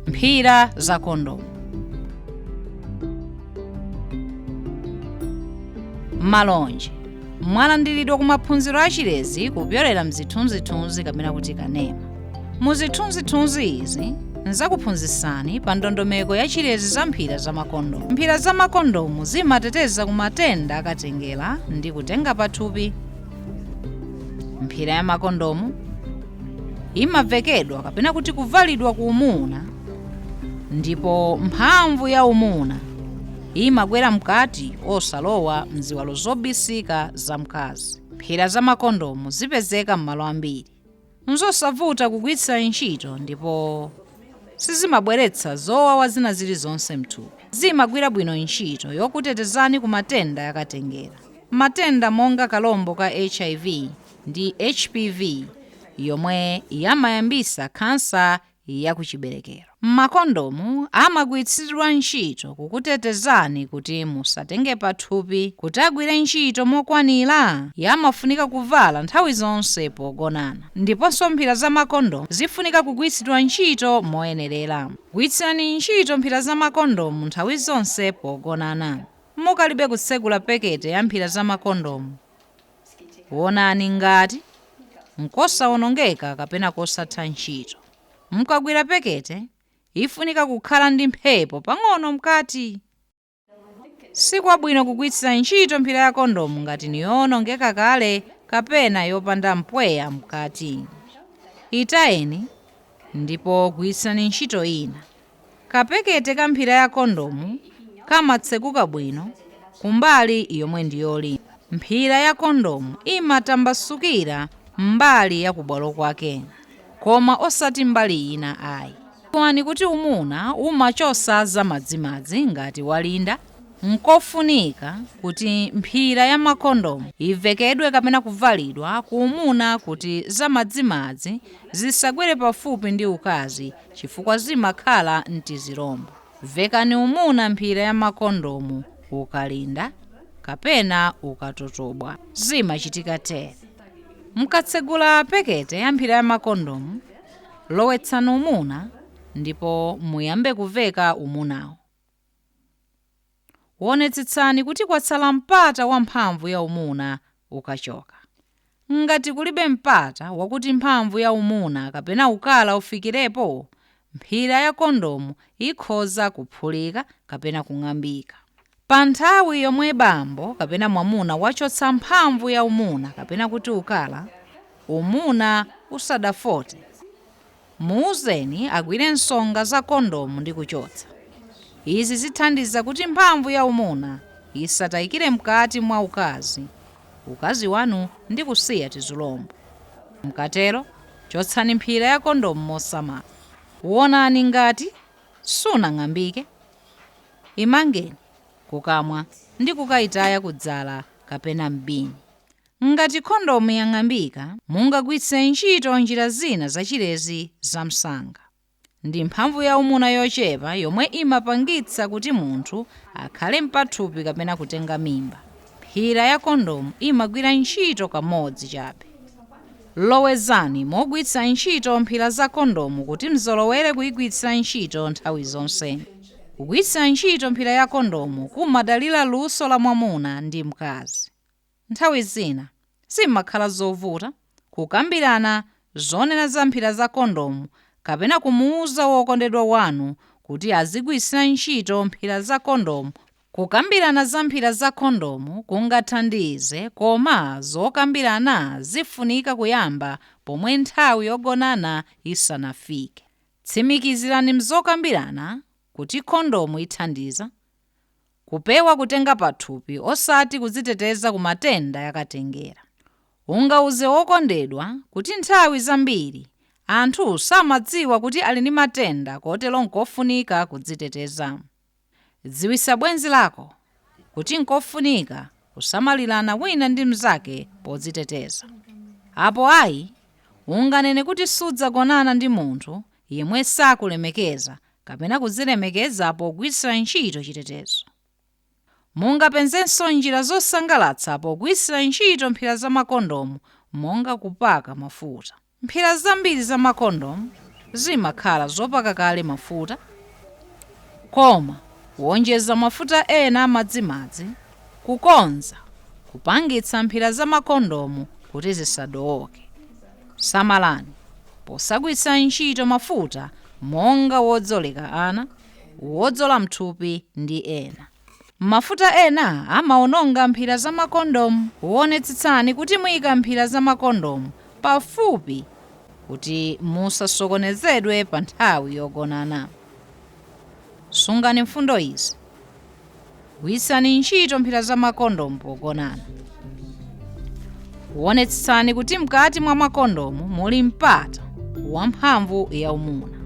mphira za kondomu malonje mwalandiridwa ku maphunziro a chilezi kupyolera mzithunzithunzi kapena kuti kanema mu zithunzithunzi izi ndzakuphunzitsani pa ndondomeko ya chilezi za mphira za makondomu mphira za makondomu zimateteza ku matenda akatengera ndi kutenga pathupi mphira ya makondomu imavekedwa kapena kuti kuvalidwa ku umuna ndipo mphamvu ya umuna imagwera mkati osalowa mziwalo zobisika za mkazi mphira za makondomu zipezeka m'malo ambiri Nzosavuta kugwiritsa ntchito ndipo sizimabweretsa zowawa zina zilizonse mthupi. Zimagwira bwino ntchito yokutetezani ku matenda yakatengera, matenda monga kalombo ka HIV ndi HPV yomwe yamayambisa khansa ya kuchiberekero. Makondomu amagwiritsidwa ntchito kukutetezani kuti musatenge pathupi. Kuti agwire ntchito mokwanira, yamafunika kuvala nthawi zonse pogonana. Ndiponso mphira za makondomu zifunika kugwiritsidwa ntchito moyenerera. Gwiritsirani ntchito mphira za makondomu nthawi zonse pogonana. Mukalibe kutsegula pekete ya mphira za makondomu, Wonani ngati nkosawonongeka kapena kosatha ntchito. Mukagwira pekete, ifunika kukhala ndi mphepo pang'ono mkati. Sikwabwino kugwiritsira ntchito mphira ya kondomu ngati niyowonongeka kale kapena yopanda mpweya mkati. Itayeni, ndipo gwiritsirani ntchito ina. Kapekete ka mphira ya kondomu kamatseguka bwino kumbali yomwe ndi yolimba. Mphira ya kondomu imatambasukira mbali ya kubwalo kwake koma osati mbali ina ayi. Dziwani kuti umuna umachosa za madzimadzi ngati walinda. Nkofunika kuti mphira ya makondomu ivekedwe kapena kuvalidwa ku umuna kuti za madzimadzi zisagwere pafupi ndi ukazi chifukwa zimakhala n'tizilombo. Vekani umuna mphira ya makondomu ukalinda kapena ukatotobwa. Zimachitika tere. Mukatsegula pekete ya mphira ya makondomu, lowetsani umuna ndipo muyambe kuveka umunawo. Wonetsetsani kuti kwatsala mpata wa mphamvu ya umuna ukachoka. Ngati kulibe mpata wakuti mphamvu ya umuna kapena ukala ufikirepo, mphira ya kondomu ikhoza kuphulika kapena kung'ambika. Pa nthawi yomwe bambo kapena mwamuna wachotsa mphamvu ya umuna kapena kuti ukala, umuna usadafote, Muuzeni agwire nsonga za kondomu ndi kuchotsa. Izi zithandiza kuti mphamvu ya umuna isataikire mkaati mwa ukazi, ukazi wanu ndi kusiya tizulombo. Mukatero, chotsani mphira ya kondomu mosamala. Wonani ngati sinang'ambike, imangeni kukamwa ndi kukaitaya ku dzala kapena m'bini. Ngati kondomu yang'ambika, mungagwiritse ntchito njira zina za chilezi za msanga. Ndi mphamvu ya umuna yochepa yomwe imapangitsa kuti munthu akhale mpathupi kapena kutenga mimba. Mphira ya kondomu imagwira ntchito kamodzi chabe. Lowezani mogwiritsa ntchito mphira za kondomu kuti mzolowere kuigwiritsa ntchito nthawi zonse. Kugwiritsa ntchito mphira ya kondomu kumadalira luso la mwamuna ndi mkazi. Nthawi zina, sizimakhala zovuta kukambirana zonena za mphira za kondomu kapena kumuuza wokondedwa wanu kuti azigwiritsira ntchito mphira za kondomu. Kukambirana za mphira za kondomu kungathandize, koma zokambirana zifunika kuyamba pomwe nthawi yogonana isanafike. Tsimikizirani m'zokambirana kuti kondomu ithandiza, Kupewa kutenga pathupi osati kudziteteza ku matenda yakatengera. Ungauze wokondedwa kuti nthawi zambiri anthu samadziwa kuti ali ndi matenda kotero nkofunika kudziteteza. Dziwisa bwenzi lako kuti nkofunika kusamalirana wina ndi mnzake podziteteza. Apo ayi, unganene kuti sudzagonana ndi munthu yemwe sakulemekeza kapena kudzilemekeza pogwiritsira ntchito chitetezo. Mungapezenso njira zosangalatsa pogwiritsira ntchito mphira za makondomu monga kupaka mafuta. Mphira zambiri za makondomu zimakhala zopaka kale mafuta, koma kuwonjeza mafuta ena amadzimadzi kukhoza kupangitsa mphira za makondomu kuti zisadooke. Samalani posagwiritsa ntchito mafuta monga wodzoleka ana, wodzola m'thupi ndi ena. Mafuta ena amawononga mphira za makondomu. Wonetsetsani kuti muika mphira za makondomu pafupi kuti musasokonezedwe pa nthawi yogonana. Sungani mfundo izi. Gwiritsani ntchito mphira za makondomu pogonana. Wonetsetsani kuti mkati mwa makondomu muli mpata wa mphamvu ya umuna.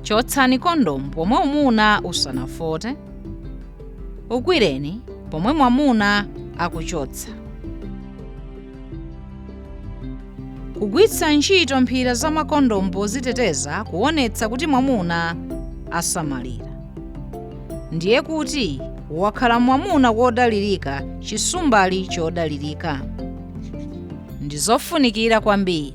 Chotsani kondomu pomwe umuna usanafote. Ugwireni pomwe mwamuna akuchotsa. kugwiritsa ntchito mphira za makondomu poziteteza kuonetsa kuti mwamuna asamalira ndiye kuti wakhala mwamuna wodalirika chisumbali chodalirika ndi zofunikira kwambiri